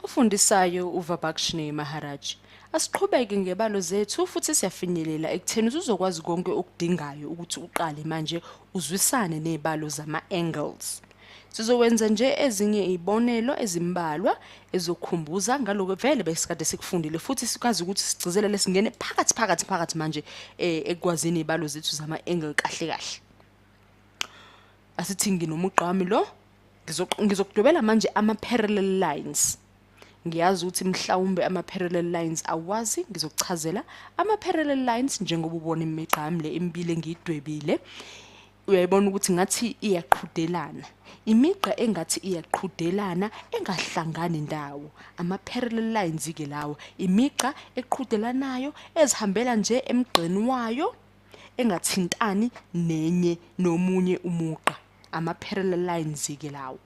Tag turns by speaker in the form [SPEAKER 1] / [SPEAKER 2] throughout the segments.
[SPEAKER 1] Ufundisayo uVabakshni Maharaj. Asiqhubeke ngebalo zethu futhi siyafinyelela ekutheni uzokwazi konke okudingayo ukuthi uqale manje uzwisane nezibalo zama-angles. Sizowenza nje ezinye izibonelo ezimbalwa ezokhumbuza ngaloko vele besikade sikufundile futhi sikwazi ukuthi sigcizelele singene phakathi phakathi phakathi manje eh, ekwazini izibalo zethu zama-angle kahle kahle. asithi nginomugqami lo ngizokudwebela manje ama-parallel lines ngiyazi ukuthi mhlawumbe ama-parallel lines awazi ngizokuchazela ama-parallel lines njengoba ubona imigqami le emibili engiyidwebile uyayibona ukuthi ngathi iyaqhudelana imigqa engathi iyaqhudelana engahlangani ndawo ama-parallel lines-ke lawo imigqa eqhudelanayo ezihambela nje emgqeni wayo engathintani nenye nomunye umugqa ama-parallel lines-ke lawo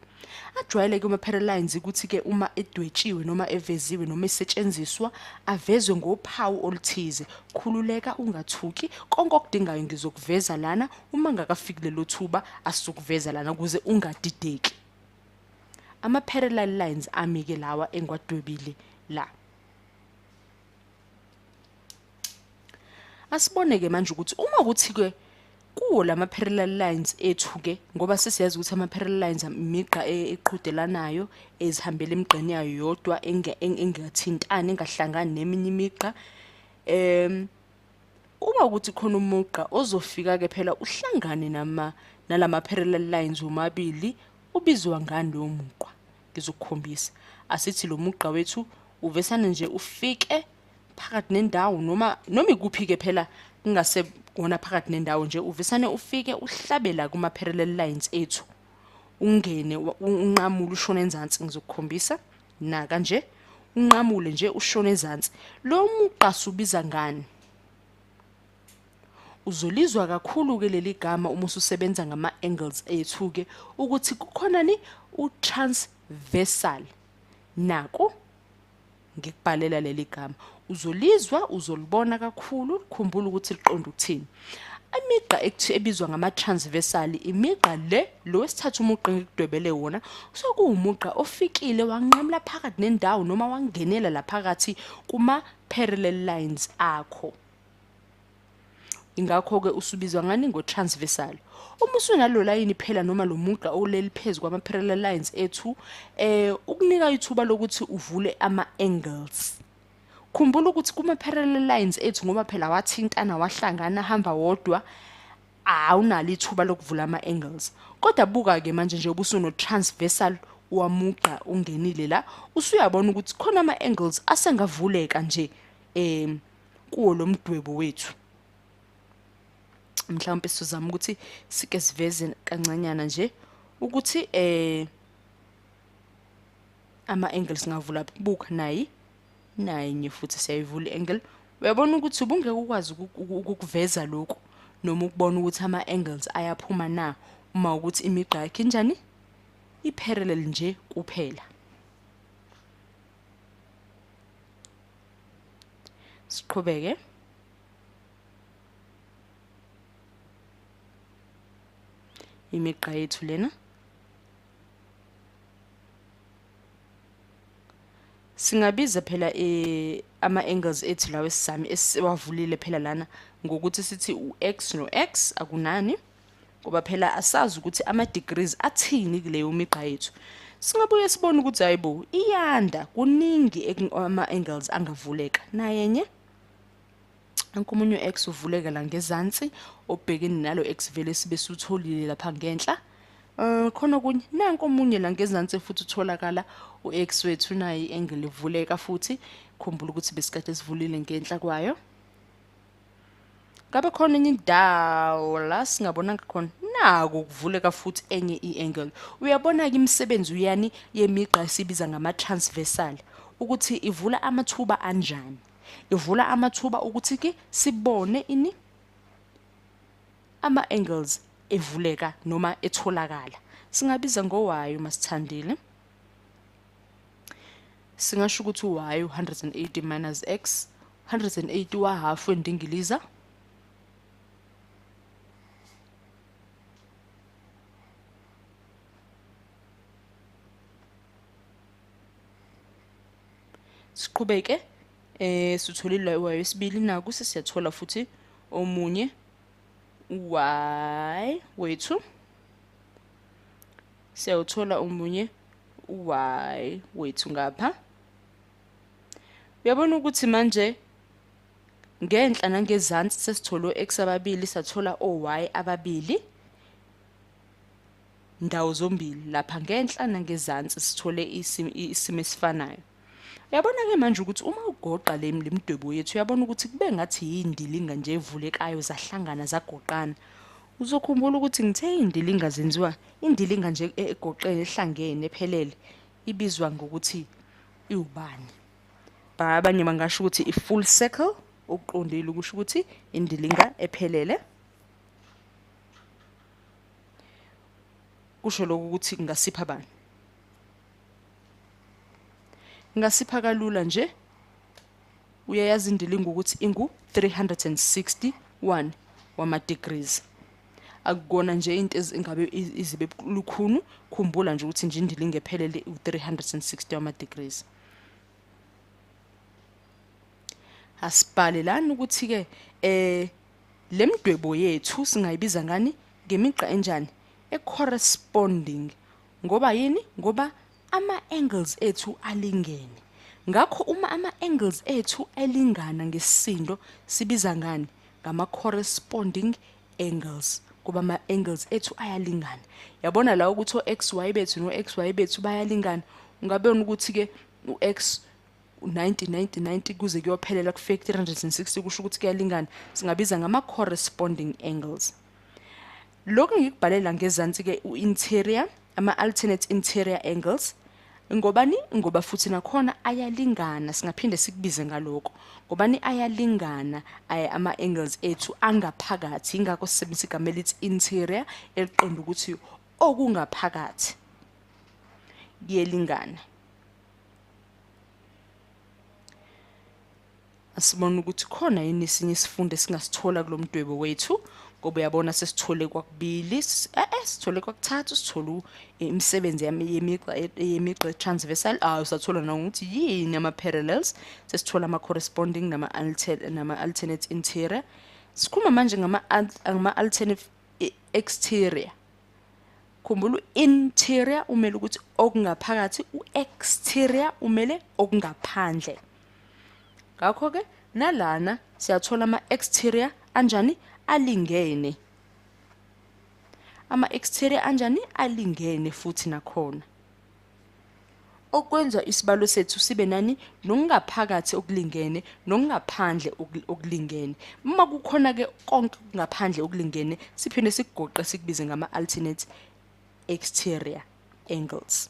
[SPEAKER 1] ajwayeleke ama-parallel lines ukuthi-ke uma edwetshiwe noma eveziwe noma esetshenziswa avezwe ngophawu oluthize khululeka ungathuki konke okudingayo ngizokuveza lana uma ngakafiki lelo thuba asizokuveza lana ukuze ungadideki ama-parallel lines ami-ke lawa engiwadwebile la asibone ke manje ukuthi uma kuthi ke kuwo lama parallel lines ethu ke ngoba sesiyazi ukuthi ama parallel lines imigqa e, eqhudelanayo ezihambela emigqeni yayo yodwa engathintani engahlangani neminye imigqa em uma ukuthi khona umugqa ozofika ke phela uhlangane nama nalama parallel lines omabili ubizwa ngani lowo mugqa ngizokukhombisa asithi lo mugqa wethu uvesane nje ufike phakathi nendawo noma noma ikuphi-ke phela kungase wona phakathi nendawo nje uvisane ufike uhlabela kuma-parallel lines ethu ungene unqamule ushone enzansi ngizokukhombisa na kanje unqamule nje ushone ezansi lo mugqa subiza ngani uzolizwa kakhulu-ke leli gama uma ususebenza ngama-angles ethu-ke ukuthi kukhonani u-transversal naku ngikubhalela leli gama uzolizwa uzolibona kakhulu khumbula ukuthi liqonda ukuthini imigqa ekuthi ebizwa ngama-transversal imigqa le lo wesithathu umugqa engikudwebele wona kusuke kuwumugqa ofikile wanqamula phakathi nendawo noma wangenela laphakathi kuma-parallel lines akho ingakho-ke usubizwa ngani ngo-transversal uma usunalo layini phela noma lo mugqa oleli phezu kwama-parallel lines ethu um ukunika ithuba lokuthi uvule ama-angles khumbula ukuthi kuma-parallel lines ethu ngoba phela wathintana wahlangana hamba wodwa awunalo ithuba lokuvula ama-angles kodwa buka-ke manje nje ubusuno-transversal wamugqa ungenile la usuyabona ukuthi khona ama-angles asengavuleka nje um kuwo lo mdwebo wethu mhlawumbe sizozama ukuthi sike siveze kancanyana nje ukuthi eh ama angles ngavula buka nayi nayi nye futhi siyayivula angle uyabona ukuthi ubungeke ukwazi ukukuveza lokho noma ukubona ukuthi ama angles ayaphuma na uma ukuthi imigqa yakhe injani i parallel nje kuphela siqhubeke imigqa yethu lena singabiza phela eh, ama-angles ethu lawo esizami esiwavulile phela lana ngokuthi sithi u-x no-x akunani no ngoba phela asazi ukuthi ama degrees athini kuleyo migqa yethu singabuye sibone ukuthi hayibo iyanda kuningi ama angles angavuleka nayenye ankomunye x uvuleka la ngezansi obhekene nalo x vele sibe sutholile lapha ngenhla Uh, khona okunye nanko omunye la ngezansi futhi utholakala u-x wethu naye i-angle ivuleka futhi khumbula ukuthi besikade sivulile ngenhla kwayo ngabe khona enye indawo la singabonanga khona naku kuvuleka futhi enye i-angle uyabona-ke imisebenzi uyani yemigqa esibiza ngama-transversal ukuthi ivula amathuba anjani ivula amathuba ukuthi-ke sibone ini ama-angles evuleka noma etholakala singabiza ngowayo masithandile singasho ukuthi y 180 minus x 180 wahafu endingiliza siqhubeke eh sitholile y wesibili naku sesiyathola futhi omunye y wethu siyawuthola umunye y wethu ngapha uyabona ukuthi manje ngenhla nangezansi sesithole o-x ababili sathola o-y ababili ndawo zombili lapha ngenhla nangezansi sithole isimo esifanayo Yabona ke manje ukuthi uma ugoqa le mdwebo yethu uyabona ukuthi kube ngathi yindilinga nje evulekayo zahlangana zagoqana. Uzokhumbula ukuthi ngithe indilinga zenziwa indilinga nje e-, egoqene ehlangene ephelele ibizwa ngokuthi iwubani. Ba abanye bangasho ukuthi i full circle okuqondile ukusho ukuthi indilinga ephelele. Kusho lokho ukuthi ngasipha bani? ngasipha kalula nje uyayazi indilingo ukuthi ingu 361 wama degrees akukona nje into ezingabe izibe lukhunu khumbula nje ukuthi nje indilingo ephelele u 360 wama degrees asibhale lana ukuthi ke eh lemdwebo yethu singayibiza ngani ngemigqa enjani e corresponding Ngoba yini? Ngoba ama angles ethu alingene. Ngakho uma ama angles ethu elingana ngesisindo sibiza ngani? Ngama corresponding angles. Kuba ama angles ethu ayalingana. Yabona la ukuthi o XY bethu no XY bethu bayalingana. Ungabona ukuthi ke u X 90 90 90 kuze kuyophelela kufike 360 kusho ukuthi kuyalingana singabiza ngama corresponding angles Lokhu ngikubhalela ngezansi ke uinterior ama alternate interior angles ngobani ngoba futhi nakhona ayalingana singaphinde sikubize ngaloko ngobani ayalingana ay ama angles ethu angaphakathi ingakho sisebenzisa igama elithi interior eliqonda ukuthi okungaphakathi kuyelingana Asibona ukuthi khona yini isinye isifundo esingasithola kulomdwebo wethu ngoba uyabona sesithole kwakubili eh, eh sithole kwakuthathu sithole eh, imisebenzi yemigqa eh, yemigqa transversal ah usathola na ukuthi yini ama parallels sesithola ama corresponding nama alternate nama alternate interior sikhuma manje ngama ngama alternate exterior khumbula interior umele ukuthi okungaphakathi u exterior umele okungaphandle ngakho-ke nalana siyathola ama-exterior anjani alingene ama-exterior anjani alingene futhi nakhona okwenza isibalo sethu sibe nani nokungaphakathi okulingene nokungaphandle okulingene uma kukhona ke konke kungaphandle okulingene siphinde sikugoqe sikubize ngama alternate exterior angles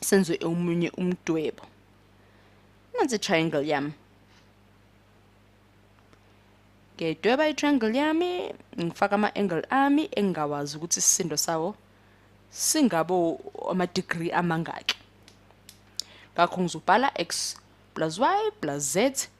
[SPEAKER 1] senze omunye umdwebo nansi i-triangle yami ngiyayidweba i-triangle yami ngifaka ama-angle ami engingawazi ukuthi isisindo sawo singabo ama-degree amangaki ngakho ngizobhala x plus y plus z